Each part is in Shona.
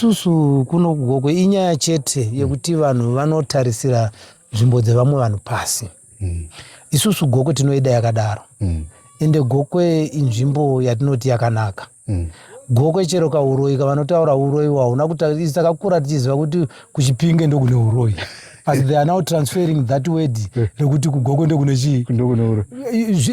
isusu kuno kugokwe inyaya chete mm. yekuti vanhu vanotarisira nzvimbo dzevamwe vanhu pasi mm. isusu gokwe tinoida yakadaro mm. ende gokwe inzvimbo yatinoti yakanaka mm. gokwe chero kauroyi kavanotaura uroyi wahuna kutaisu takakura tichiziva kuti kuchipinge ndokune uroyi asi they are now transferring that word rekuti kugokwe ndokune chii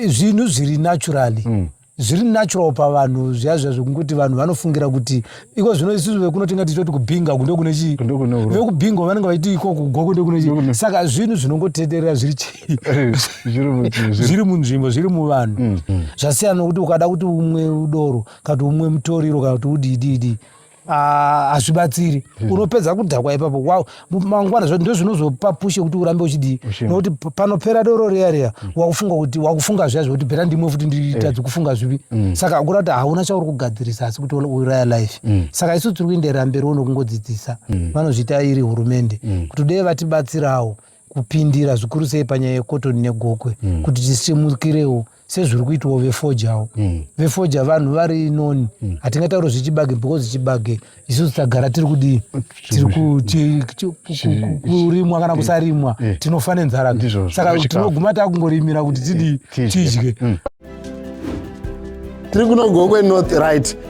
zvinhu zviri naturally mm. zviri natural pavanhu zviya zviya zvekunguti vanhu vanofungira kuti iko zvino isusu vekuno tinga tichitoti kubhinga uku ndokune chii vekubhinga vanenge vachiti iko kugoko ndokune chii saka zvinhu zvinongotenderera zviri chii eh, zviri munzvimbo zviri muvanhu mm, mm. zvasiyana nokuti ukada kuti umwe udoro kana kuti umwe mutoriro kana kuti udidiidi Ah, hazvibatsiri hmm. unopedza kudhakwa ipapo wow mangwana zvacho ndozvinozopa pushe kuti urambe uchidii nokuti panopera doro riya riya hmm. wakufunga kuti wakufunga zviya zvekuti bhera ndimwe futi nditadzi eh. kufunga zvivi hmm. saka akura kuti hauna chauri kugadzirisa asi kuti uraya life saka isu tiri kuenderera mberi uno kungodzidzisa vanozviita iri hurumende kuti dei vatibatsirawo kupindira zvikuru sei panyaya yekotoni negokwe kuti tisimukirewo sezviri kuitwawo vefojawo mm. vefoja vanhu vari noni mm. hatingataure zvechibage because chibage isusu tagara tiri kudii tikurimwa kana kusarimwa eh. tinofa nenzara saka tinoguma takungorimira kuti tidii eh, tidye mm. tiri kunogokwe north right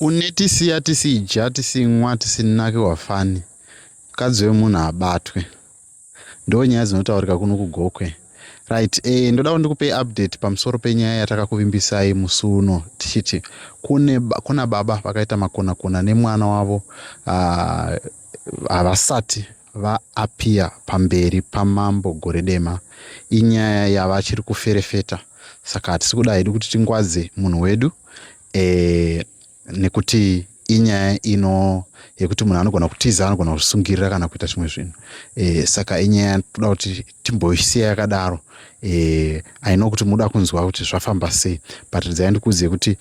Unetisiya tisidya tisinwa tisinake wafani mukadzi wemunhu abatwe ndo nyaya dzinotaurika kuno kugokwe right e, ndoda kuti ndikupei update pamusoro penyaya yatakakuvimbisai musi uno tichiti kune kuna baba vakaita makonakona nemwana wavo ah, havasati uh, VaAppiah pamberi pamambo gore dema inyaya yavachiri kuferefeta saka hatisi kuda hedu kuti tingwadze munhu wedu e, nekuti inyaya ino yekuti munhu anogona kutiza anogona kuzvisungirira kana kuita zvimwe zvinhu e, saka inyaya toda kuti timboisiya yakadaro e, aino kuti muda kunzwa kuti zvafamba sei but dzai ndikuudzei kuti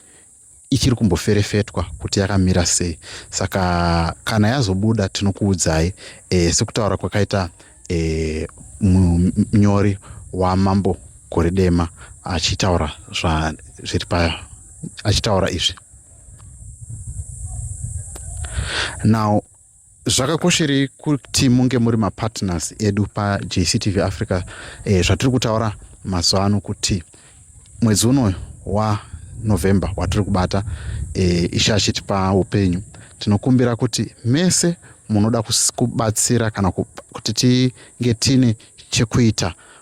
ichiri kumboferefetwa kuti yakamira sei saka kana yazobuda tinokuudzai e, sekutaura kwakaita e, munyori wamambo gore dema achitaura zviri pa achitaura izvi now zvakakosherei kuti munge muri mapartners edu pajctv africa e, zvatiri kutaura mazuva ano kuti mwedzi uno wanovember watiri kubata e, ishe achitipa upenyu tinokumbira kuti mese munoda kubatsira kana kuti tinge tiine chekuita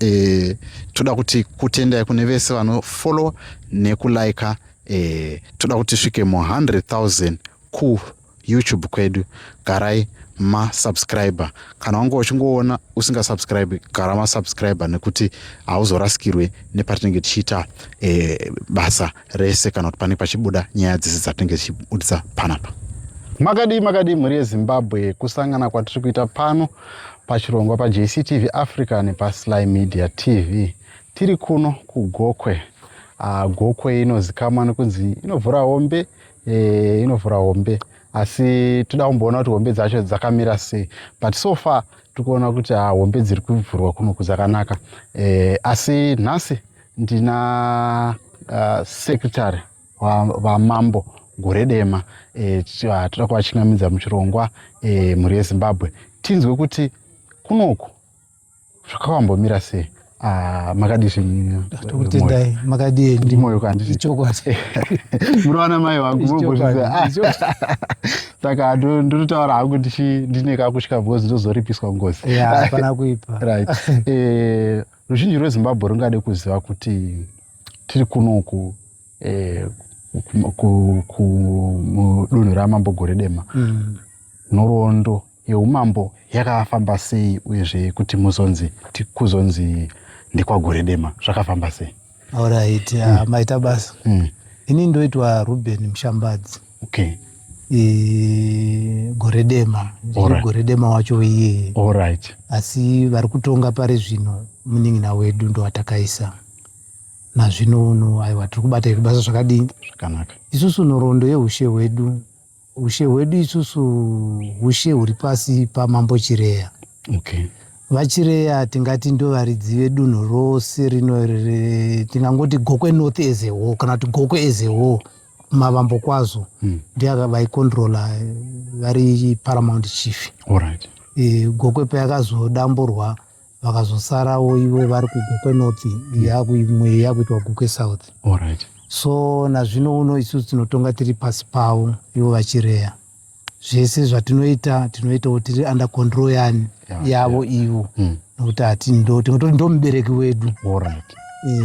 eh, toda kuti kutendai kune vese vanofollowa nekulika eh, toda kuti svike mu 100000 ku youtube kwedu garai masubscriber kana wanga uchingoona usingasubscribe gara masubscriber nekuti hauzorasikirwe nepatinenge tichiita e, basa rese kana kuti panenge pachibuda nyaya dzese dzatinenge tichibudisa panapa makadii makadii mhuri yezimbabwe kusangana kwatiri kuita pano pachirongwa paJCTV Africa nepaSly Media TV. Tiri kuno kuGokwe. Uh, Gokwe inozikamwa nekunzi inovhura hombe, eh, inovhura hombe. Asi toda kumboona kuti hombe dzacho dzakamira sei. But so far tiri kuona kuti uh, hombe dziri kuvhurwa kuno kuzakanaka. Eh, asi nhasi ndina uh, secretary vamambo gore dema eh, ah, toda kuvachingamidza muchirongwa eh, mhuri yezimbabwe tinzwe kuti kunoku zvakawambomira sei ah, makadizvitokutendai ah, makadii ndimoyo kandiichokwadi murowana mai wangu vogozviza saka ndinotaura hangu ndine kakutya because ndozoripiswa ngozi hapana kuipa right eh, ruzhinji rwezimbabwe rungade kuziva kuti tiri kunoku eh, kudunhu ramambo gore dema mm. nhoroondo yeumambo yakafamba sei uyezve kuti muzonzi kuzonzi ndekwagore dema zvakafamba sei Alright, mm. uh, maita basa. Mm. Ini ndoitwa Ruben Mshambadzi. Okay. E, gore dema right. gore dema wacho iye right. asi vari kutonga pari zvino munin'ina wedu ndowatakaisa nazvino uno aiwa tiri kubata iri basa zvakadii zvakanaka isusu nhoroondo yeushe hwedu Hushe hwedu isusu hushe huri pasi paMambo Chireya. Okay. VaChireya tingati ndovaridzi vedunhu rose rino tingangoti Gokwe North as a whole kana kuti Gokwe as a whole mavambo kwazo mm. ndiyo vaikontrola vari paramount chief. All right. E, Gokwe payakazodamburwa vakazosarawo ivo vari kugokwe north imwe yakuitwa gokwe south Alright. so nazvino uno isusu tinotonga tiri pasi pavo ivo vachireya zvese zvatinoita tinoitawo tiri under control yani Yeah, yavo ivo Mm. nokuti hati ndo- tinototi ndo mubereki wedu Alright. Eh,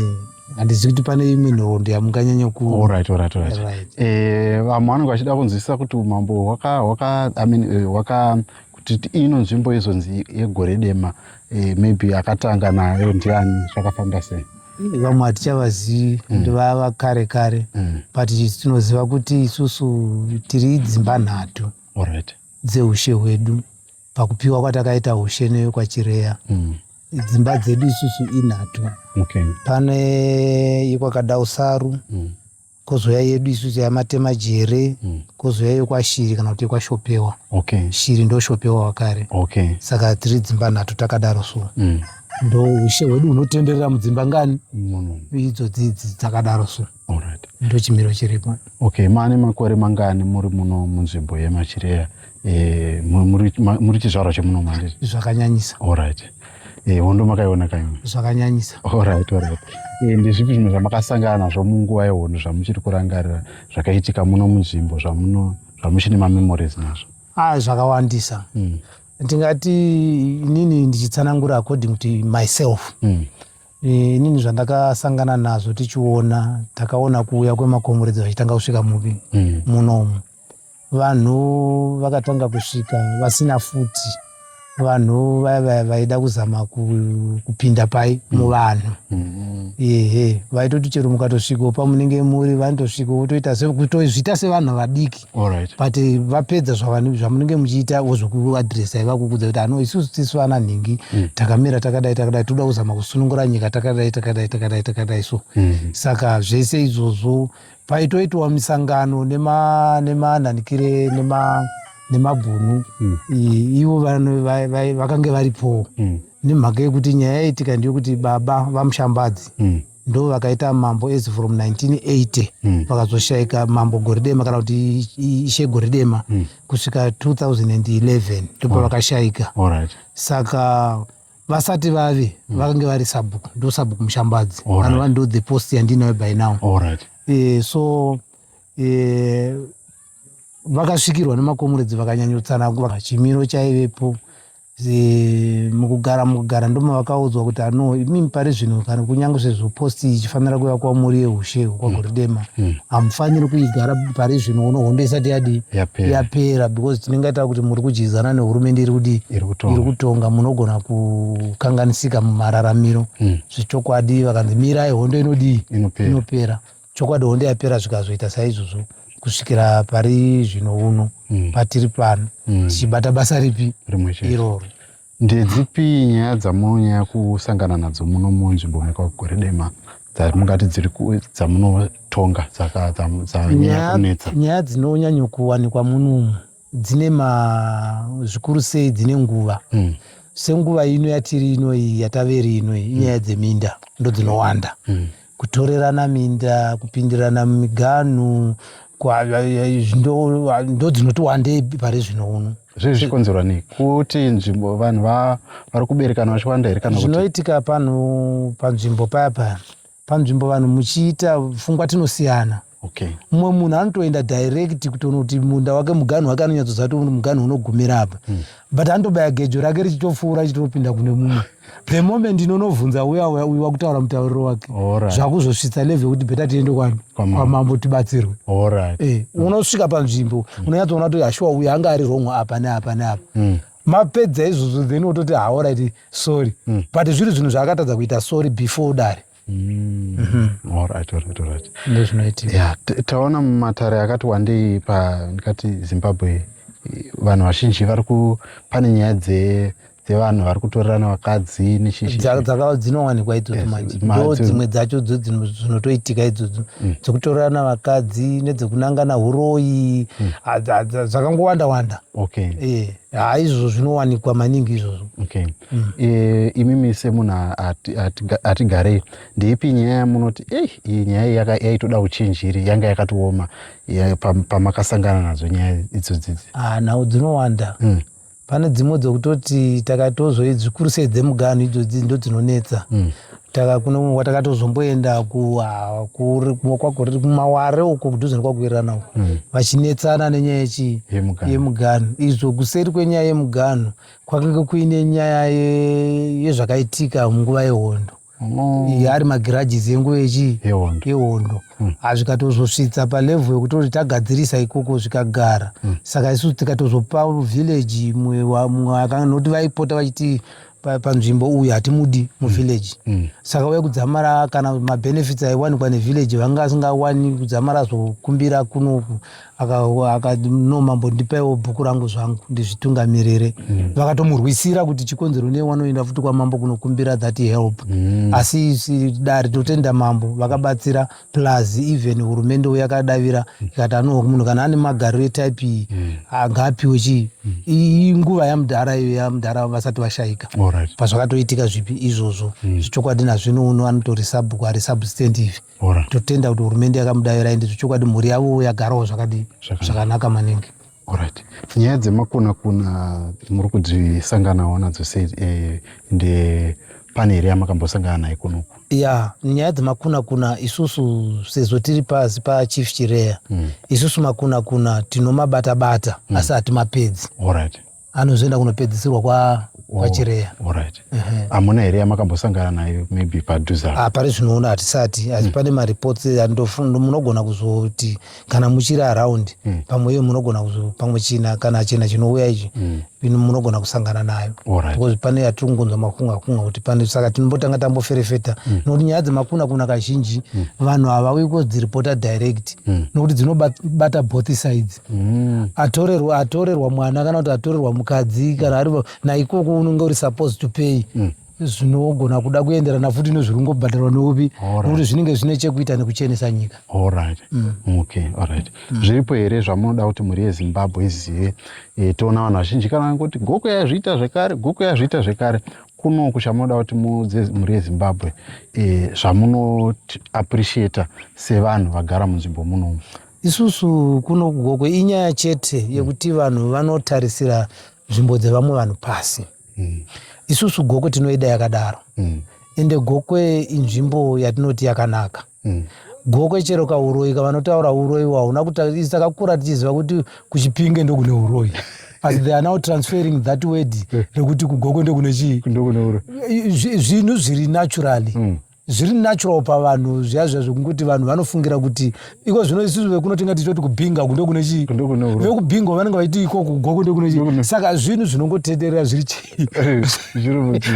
handizivi kuti pane imwe nhoroondo yamunganyanya ku Alright, alright, alright. Right. Eh, vamwe vanenge vachida kunzwisisa kuti umambo hwaka hwaka I mean eh, hwaka kuti ino nzvimbo izonzi yegore dema eh, maybe akatanga nayo ndiani zvakafamba sei vamwe hatichavazivi mm. ndi vava kare kare mm. but tinoziva kuti isusu tiri dzimba nhatu right. dzeushe hwedu pakupiwa kwatakaita ushe neyo kwachireya mm. dzimba dzedu isusu inhatu okay. pane ikwakadausaru mm. kozouya yedu isu yamatema jere mm. kozouya yokwashiri kana kuti yokwashopewa okay. shiri ndoshopewa wakare okay. saka tiri dzimba nhatu takadaro so mm. ndo ushe hwedu hunotenderera mudzimba ngani mm. idzo dzidzi dzakadaro so right. ndo chimiro chiripo okay maane makore mangani muri muno munzvimbo yemachireya Eh, muri chizvarwa chemuno mandiri zvakanyanyisa orit eh, hondo makaiona kaimwe zvakanyanyisa orit orit eh, ndezvipi zvimwe zvamakasangana nazvo munguva yehondo zvamuchiri kurangarira zvakaitika muno munzvimbo zvamuno zvamuchine mamemories nazvo a ah, zvakawandisa hmm. ndingati inini ndichitsanangura according to myself hmm. inini zvandakasangana nazvo tichiona takaona kuuya kwemakomuredzi vachitanga kusvika mupi hmm. munomu Vanhu vakatanga kusvika vasina futi vanhu vaya vaya vaida kuzama kupinda pai mm. muvanhu mm-hmm. ehe vaitoti chero mukatosvikawo pamunenge muri vanotosvika votoita kutozviita sevanhu vadiki but vapedza zvamunenge muchiita vozvokuadresa ivakukudza kuti ano isusu tisu vana nhingi mm. takamira takadai takadai toda kuzama kusunungura nyika takadai takadai takadai takadai so mm-hmm. saka zvese izvozvo paitoitwa misangano nemananikire nema nemabhunu mm. ivo vakange varipowo mm. nemhaka yekuti nyaya yaitika ndeyekuti baba vamushambadzi mm. ndo vakaita mambo as from 1980 mm. vakazoshaika mambo goridema kana kuti ishe goridema mm. kusvika 2011 ndipo vakashaika right. saka vasati vave mm. vakange vari sabhuku ndo sabhuku mushambadzi anova ndo the post yandinayo by now right. e, so e, vakasvikirwa nemakomuredzi vakanyanyotsanangura chimiro chaivepo e, mukugara mukugara ndomavakaudzwa kuti ano imimi pari zvino kana kunyange sezvo posti ichifanira kuva kwamuri yeushe kwagoridema mm. Hmm. hamufaniri mm. kuigara pari zvino uno hondo isati yadii yapera because tinenge taa kuti muri kudyidzana nehurumende iri kudii iri kutonga munogona kukanganisika mumararamiro mm. zvechokwadi vakanzi mirai hondo inodii inopera chokwadi hondo yapera zvikazoita saizvozvo kusvikira pari zvino uno mm. patiri pano hmm. tichibata mm. basa ripi iroro Ndedzipi nyaya dzamunonyanya kusangana nadzo muno munzvimbo mekwaGweredema dzamungati dziri dzamunotonga dzanyaya kunetsa? Nyaya dzinonyanya kuwanikwa munomu dzine zvikuru sei dzine nguva mm. senguva ino yatiri inoyi yataveri inoyi inyaya mm. dzeminda ndodzinowanda mm. kutorerana minda kupindirana mumiganhu ndodzinoti wandei pari zvino uno zvii zvichikonzerwa nei kuti nzvimbo vanhu vari kuberekana vachiwanda here kana zvinoitika panhu panzvimbo paya paya panzvimbo vanhu muchiita pfungwa tinosiyana Okay. Mumwe munhu anotoenda direct kutoona kuti munda wake muganhu wake anonyatsoziva kuti muganhu unogumira apa. Mm. But anotobaya gejo rake richitopfuura richitopinda kune mumwe. The moment inonobvunza uya uya uyu wakutaura mutauriro wake. Alright. Zvakuzosvitsa level yekuti beta tiende kwa kwamambo tibatsirwe. Alright. Eh, mm. unosvika panzvimbo mm. unonyatsoona kuti hashuwa uyu anga ari wrong apa neapa neapa. Mm mapedza izvozvo then wototi haoraiti sorry mm. but zviri zvinhu zvaakatadza kuita sorry before dare Mm. Alright, alright, alright. Ndozvinoitika. Yeah, t- taona mumatare akati wandei pa ndikati Zimbabwe eh, vanhu vazhinji vari ku pane nyaya dze dzevanhu vari kutorerana vakadzi nechii Dza- dzaka- dzinowanikwa idzodzo Yes, manje ma- ndo dzi- dzimwe dzacho dzo dzino- dzinotoitika idzodzo dzekutorerana vakadzi nedzekunangana huroyi Hadza- hadza- zvakangowanda wanda okay Eh, haa izvozvo zvinowanikwa maningi izvozvo okay mm. e, imimi semunhu hatigarei ati, ati ndeipi nyaya yamunoti ei iyi nyaya iyi yaitoda uchenjeri yanga yakatooma ya, pamakasangana pa nadzo nyaya idzodzidzi ah, nhau dzinowanda mm. pane dzimwe dzokutoti takatozoi zvikuru sei dzemuganhu idzodzi ndo dzinonetsa mm takakunwa takatozomboenda kwakuriri kumaware uko kudhuze nekwakuirana uko hmm. vachinetsana nenyaya yechii yemuganhu izvo kuseri kwenyaya yemuganhu Kwakanga kuine nyaya yezvakaitika munguva yehondo mm. ari magirages enguva yechi yehondo mm. azvikatozosvitsa palevhu yekuti tagadzirisa ikoko zvikagara mm. saka isu tikatozopa village mumwe akanoti vaipota vachiti panzvimbo uyu hatimudi muvillage mm. mm. saka uye kudzamara kana mabenefits aiwanikwa nevillage vanga asingawani kudzamara zvokumbira kunoku aka aka no mambo ndipaiwo bhuku rangu zvangu ndizvitungamirire mm. vakatomurwisira kuti chikonzero nei wanoenda futi kwamambo kunokumbira that help mm. asi si, dare totenda mambo vakabatsira plus even hurumende yakadavira mm. ikati mm. anoho munhu kana ane magariro etype iyi mm. ngaapiwe chii mm. iyi nguva yamudhara iyo yamudhara vasati vashaika right. pazvakatoitika zvipi izvozvo mm. zvichokwadi nazvino uno anotorisa bhuku harisubstand ivi Hora. totenda kuti hurumende yakamudavira ende zvechokwadi mhuri yavo yagarawo zvakadii Zvakanaka. zvakanaka maningi Alright. Nyaya dzemakuna kuna muri kudzisanganawo nadzo sei eh, ende pane here yamakambosangana naye kunoku? ya nyaya dzemakunakuna isusu sezvo tiri pasi pachief chireya isusu makunakuna tinomabatabata asi hatimapedzi Alright. anozoenda kunopedzisirwa kwa oh, kwachireya right. uh -huh. amuna here yamakambosangana nayo maybe padhuza ah, pari zvinoona hatisati asi mm. pane mareports munogona kuzoti kana muchiri around mm. pamwe iyo munogona kuzo pamwe china kana china chinouya ichi mm. munogona kusangana nayo right. because pane yatiri kungonzwa makunga kunga kuti pane saka tinombotanga tamboferefeta mm. nokuti nyaya dzemakuna kuna kazhinji mm. vanhu havauyi kodziripota direct mm. nokuti dzinobata both sides Mm. atorerwa atorerwa mwana kana kuti atorerwa mukadzi kana ari naikoko unenge uri supposed to pay mm. zvinogona kuda kuenderana futi nezviri kungobhadharwa neupi nokuti zvinenge zvine chekuita nekuchenesa nyika mm. mm. zviripo here zvamunoda kuti mhuri yezimbabwe izive e, toona vanhu vazhinji kana vangoti goko yazviita zvekare goko yazviita zvekare kunoku chamunoda kuti muudze mhuri yezimbabwe e, zvamunoappreciata sevanhu vagara munzvimbo munomu Isusu kuno kuGokwe inyaya chete yekuti vanhu vanotarisira nzvimbo dzevamwe vanhu pasi. Mm. Isusu Gokwe tinoida yakadaro. Mm. Ende Gokwe inzvimbo yatinoti yakanaka. Mm. Gokwe chero kauroyi kavanotaura uroyi wahuna kuti takakura tichiziva kuti kuchipinge ndokune uroyi. but they are now transferring that word rekuti kugoko ndokune chii zvinhu zviri naturally mm. zviri natural pavanhu zviya zviya zvekungoti vanhu vanofungira kuti iko zvino isusu vekuno tinga tichoti kubhinga uku ndokune chii vekubhinga vanenge vaiti iko kugoko ndokune chii saka zvinhu zvinongotenderera zviri chii eh,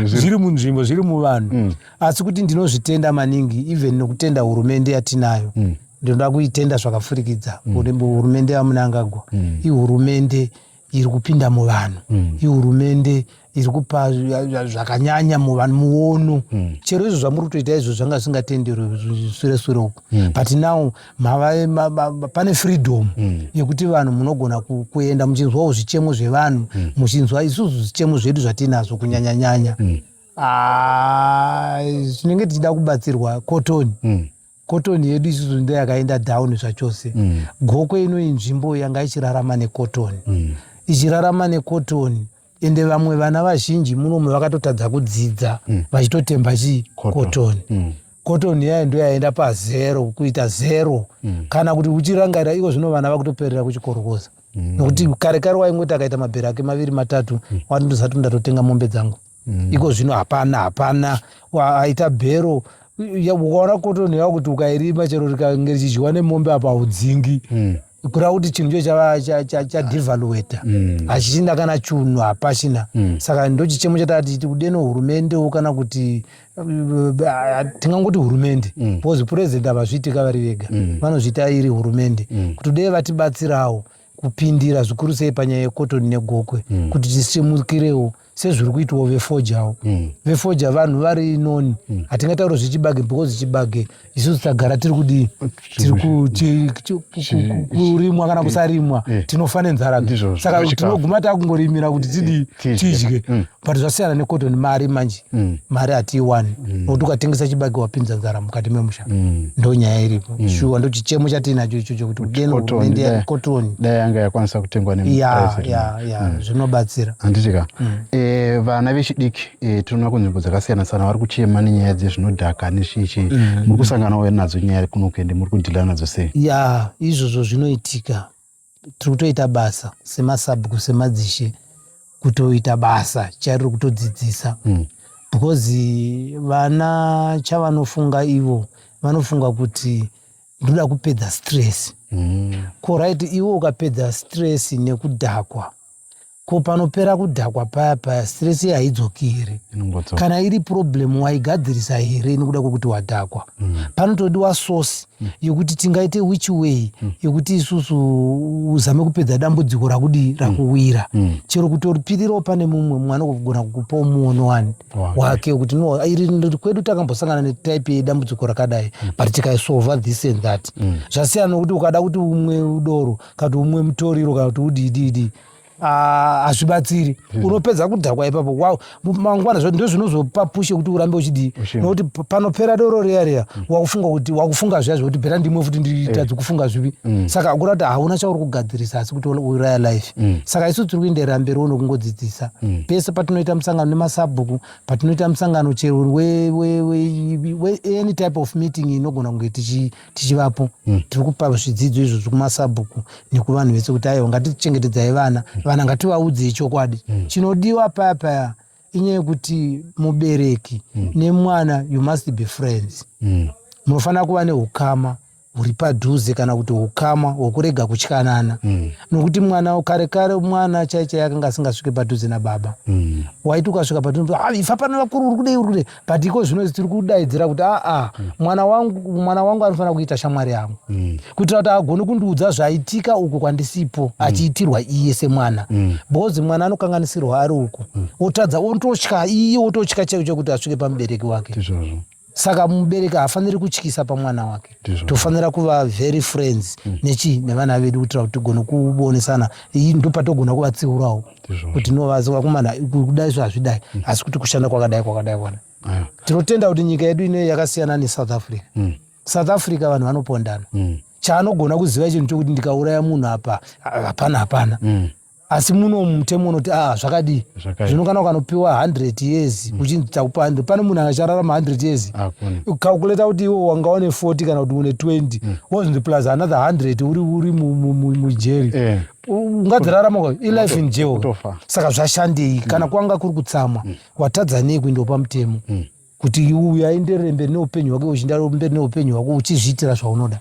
zviri munzvimbo zviri muvanhu mm. asi kuti ndinozvitenda maningi even nokutenda hurumende yatinayo mm. ndinoda kuitenda zvakafurikidza mm. hurumende yamunangagwa ihurumende iri kupinda muvanhu mm. ihurumende iri kupa zvakanyanya muvanhu muono mm. chero izvo zvamuri kutoita izvo zvanga zvisingatenderwe sure sure uku mm. but now mava, ma, ma, ma, pane freedom mm. yekuti vanhu munogona ku, kuenda muchinzwawo zvichemo zvevanhu mm. muchinzwa isusu zvichemo zvedu zvatiinazvo kunyanyanyanya mm. ah, tinenge tichida kubatsirwa kotoni mm. Cotton yedu isusu ndo yakaenda down zvachose. Mm. Gokwe ino inzvimbo yanga ichirarama necotton. Mm. Ichirarama necotton ende vamwe vana vazhinji munomu vakatotadza kudzidza mm. vachitotemba mm. chii cotton. Mm cotton yayo ndo yaenda pazero kuita zero mm. kana kuti uchirangarira iko zvino vana vakutoperera kuchikorokoza mm. nokuti kare kare waingoti akaita mabhero ake maviri matatu mm. wandozati ndatotenga mombe dzangu mm. iko zvino hapana hapana aita bhero ukaona kotoni yavo kuti ukairima chero rikange richidyiwa nemombe apa haudzingi mm. kureva kuti chinhu cho chava chadevalueta mm. hachichina kana chunhu hapachina mm. saka ndochichemo chataa tichiti kudeno hurumendewo kana kuti eh, tingangoti hurumende mm. because purezidenti havazviitika vari vega vanozviita iri hurumende kuti dei vatibatsirawo kupindira zvikuru sei panyaya yekotoni negokwe kuti tisimukirewo sezviri kuitwawo vefojawo mm. vefoja vanhu vari noni mm. hatingataure mm. zvechibage because chibage isusu tagara tiri kudii tikurimwa kana kusarimwa eh. tinofa nenzara saka tinoguma takungorimira kuti tidii eh, tidye mm. but zvasiyana necotton mari manje mm. mari hatiiwani mm. nokuti ukatengesa chibage wapinza nzara mukati memusha mm. ndo nyaya iripo mm. shuwa ndo chichemo chatiinacho ichocho kuti udeno hurumende yacotton dai yanga yakwanisa kutengwa ne yeah, mm. zvinobatsira handiti ka mm. e, vana vechidiki e, tinoona kunzvimbo dzakasiyana siyana vari kuchema nenyaya dzezvinodhaka nezvichi mm. muri kusanganawo nadzo nyaya kuno kuende muri kudhila nadzo sei ya yeah, izvozvo zvinoitika tiri kutoita basa semasabhuku semadzishe kutoita basa chariri kutodzidzisa mm. because vana chavanofunga ivo vanofunga kuti ndoda kupedza stress mm. ko right iwe ukapedza stress nekudhakwa ko panopera kudhakwa paya paya stress ye haidzokiri kana iri problem waigadzirisa here nekuda kwekuti wadhakwa mm. panotodiwa source mm. yekuti tingaite which way mm. yekuti isusu uzame kupedza dambudziko rakudi mm. rakuwira mm. chero kutoripirirawo pane mumwe mwana kugona kukupawo muono wani wake wekuti no iri kwedu takambosangana netype yedambudziko rakadai mm. but tikaisolva this and that mm. zvasiyana nokuti ukada kuti umwe udoro kana kuti umwe mutoriro kana kuti udiidiidii Ah, hazvibatsiri hmm. unopedza kudhakwa ipapo wow mangwana zvacho ndo zvinozopa pushe kuti urambe uchidii nokuti panopera doro riya riya hmm. wakufunga kuti wakufunga zviya zvekuti bhera ndimwe futi nditadzi eh. kufunga zvivi hmm. saka kura kuti hauna chauri kugadzirisa asi kuti uuraya life mm. saka isu tiri kuenderera mberi uno kungodzidzisa mm. pese patinoita musangano nemasabhuku patinoita musangano chero weany type of meeting inogona kunge tichivapo mm. tiri kupa zvidzidzo izvo zvekumasabhuku nekuvanhu vese kuti aiwa ngatichengetedzai vana mm. vana ngativaudze ichokwadi mm. chinodiwa paya paya inyaya yekuti mubereki mm. nemwana you must be friends mm. munofanira kuva neukama huri padhuze kana kuti ukama hwekurega kutyanana mm. nokuti mwana kare kare mwana chaichai akanga asingasvike padhuze nababa mm. waiti ukasvika padhuze ah, ifa pana vakuru uri kudei uri kudei but iko zvino tiri kudaidzira kuti aa ah, ah, mm. mwana wangu mwana wangu anofanira kuita shamwari yangu mm. kuitira kuti agone kundiudza zvaitika uku kwandisipo mm. achiitirwa iye semwana mm. because mwana anokanganisirwa ari uku mm. otadza ototya iye ototya chaiwo chekuti asvike pamubereki wake Tizvozvo saka mubereki haafaniri kutyisa pamwana wake tofanira kuva very friends mm. nechi nevana vedu kuitira kuti tigone kuonesana ndopatogona kuvatsiurawo kuti no vakomana kudai zvo hazvidai mm. asi kuti kushanda kwakadai kwakadai kwana tinotenda kuti nyika yedu inoyi yakasiyana nesouth africa mm. south africa vanhu vanopondana mm. chaanogona kuziva chinhu chokuti ndikauraya munhu apa hapana hapana asi muno mutemo unoti a ah, zvakadii zvino kana ukanopiwa 100 years mm. uchinzi takupa 100 pane munhu akachararama 100 years ukakuleta kuti iwo wanga une 40 kana kuti une 20 mm. wozvindi plus another 100 uri uri mujeri eh. ungadzirarama ilife in jail saka zvashandei kana mm. kwanga kuri kutsamwa mm. watadza nei kuinda pamutemo mm. kuti uyu aenderere mberi neupenyu hwake uchindaro mberi neupenyu hwako uchizviitira zvaunoda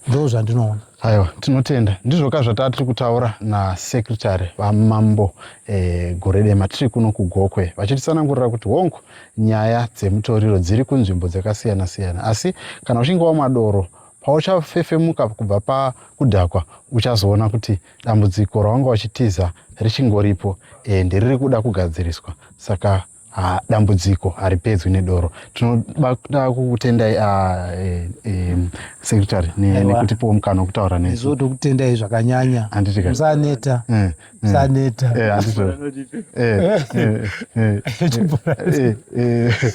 ndo zvandinoona aiwa tinotenda ndizvo ka zvataa tiri kutaura nasekretary vamambo e, gore dema tiri kuno kugokwe vachitisanangurira kuti hongu nyaya dzemutoriro dziri kunzvimbo dzakasiyana siyana asi kana uchinge wamwa doro Pauchafefemuka kubva pakudhakwa, uchazoona kuti dambudziko rawanga uchitiza richingoripo and riri kuda kugadziriswa. Saka ha, dambudziko haripedzwi nedoro. Tinoda kukutendai ah, eh, eh, secretary ne, nekutipowo mukana wekutaura nesu. Izvo tokutendai zvakanyanya. Handiti ka? Musaneta. Eh, eh. Musaneta. Eh, handiti. Eh, eh, eh, eh, eh, eh.